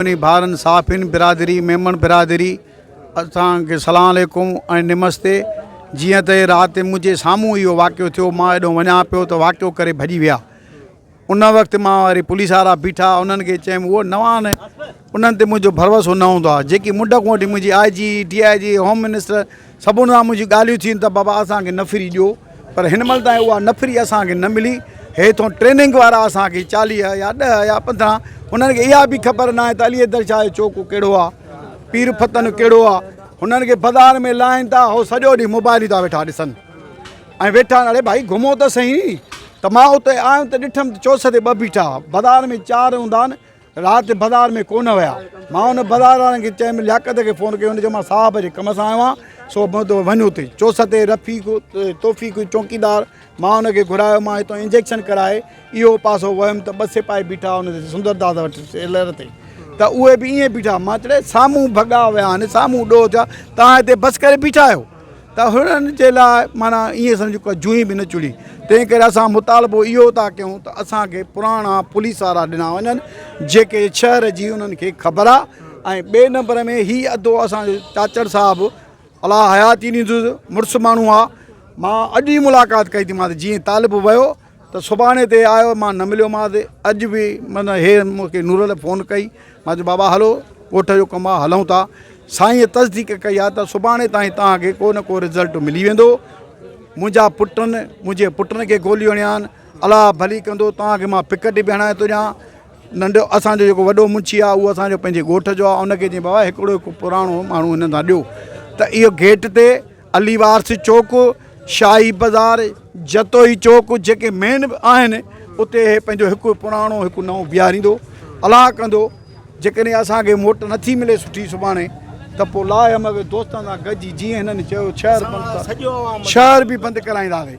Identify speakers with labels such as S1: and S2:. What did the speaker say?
S1: سڀني ڀائرن صحافين برادري ميمڻ برادري اسان کي سلام عليڪم ۽ نمستي جيئن ته رات منهنجي سامهون اهو واقعو ٿيو مان اڏو وڃان پيو ته واقعو ڪري ڀڄي ويا ان وقت مان واري پوليس وارا بيٺا انهن کي چيم هو نوان انهن تي منهنجو ڀروسو نه هوندو آهي جيڪي منڊڪ وٺي منهنجي I G D I G home minister سڀن سان منهنجي ڳالهيون ٿين ته بابا اسان کي نفري ڏيو پر هن مهل تائين اها نفري اسان کي نه ملي هيٿون ٽريننگ وارا اسان کي چاليهه يا ڏهه يا پندرهن هنن کي اها به خبر ناهي ته علي حيدر شاهه جو چوڪو ڪهڙو آ پير فتن ڪهڙو آ هنن کي بازار ۾ لاهين ٿا هو سڄو ڏينهن موبائل ٿا ويٺا ڏسن ۽ ويٺا اڙي ڀائي گهمو ته سهي ته مان اتي آيم ته ڏٺم ته چوسري ٻه بيٺا بازار ۾ چار هوندا آهن رات بازار ۾ ڪونه ويا. مان ان بازار وارن کي چيم لياقت کي فون ڪيو هن چيو مان صاحب جي ڪم سان آيو آهيان سو وڃ اتي چوسه تي رفيق توفيق چونڪيدار مان ان کي گهرايو مان هتان انجيڪشن ڪرائي اهو پاسو ويم ته ٻه سپاهي بيٺا ان سندر داس وٽ سيلر تي ته اهي به ائين بيٺا مان چيم سامهون ڀڳا ويا آهن سامهون ڏوهه ٿيا تان هتي بس ڪري بيٺا آهيو. ته هنن جي لاء معنيٰ ائين سمجهه ڪو جوئي به نه چڙهي، تنهن ڪري اسان مطالبو اهو ٿا ڪيون ته اسان کي پراڻا پوليس وارا ڏنا وڃن جيڪي شهر جي انهن کي خبر آ ۽ ٻئي نمبر ۾ هي ادو اسان جو چاچڙ صاحب الله حياتي ڏيندس مڙس ماڻهو آ مان اڄ ئي ملاقات ڪئي ٿي مانس جيئن طالب ويو ته سڀاڻي تي آيو مان نه مليومانس اڄ به من هي مونکي نورل فون ڪئي مان چيو بابا هلو ڳوٺ جو ڪم آ هلون ٿا سائينء تصديق ڪئي آ ته سڀاڻي تائين توهان کي ڪو نه ڪو رزلٽ ملي ويندو منهنجا پٽن منهنجي پٽن کي گوليون هڻيا آهن الله ڀلي ڪندو توهان کي مان پڪٽ به هڻائي ٿو ڏيان ننڍو اسان جو جيڪو وڏو منشي آ اهو اسان جو پنهنجي ڳوٺ جو آ ان کي چئي بابا هڪڙو هڪ پراڻو ماڻهو هنن سان ڏيو ته اهو گيٽ تي علي وارث چوڪ، شاهي بازار، جتوئي چوڪ جيڪي مين آهن اتي هي پنهنجو هڪ پراڻو هڪ نئون بيهاريندو الاهه ڪندو جيڪڏهن اسان کي موٽ نٿي ملي سٺي سڀاڻي ته پوء لاهه مغوي دوستن سان گڏجي جيئن هنن چيو شهر بند شهر به بند ڪرائينداسين.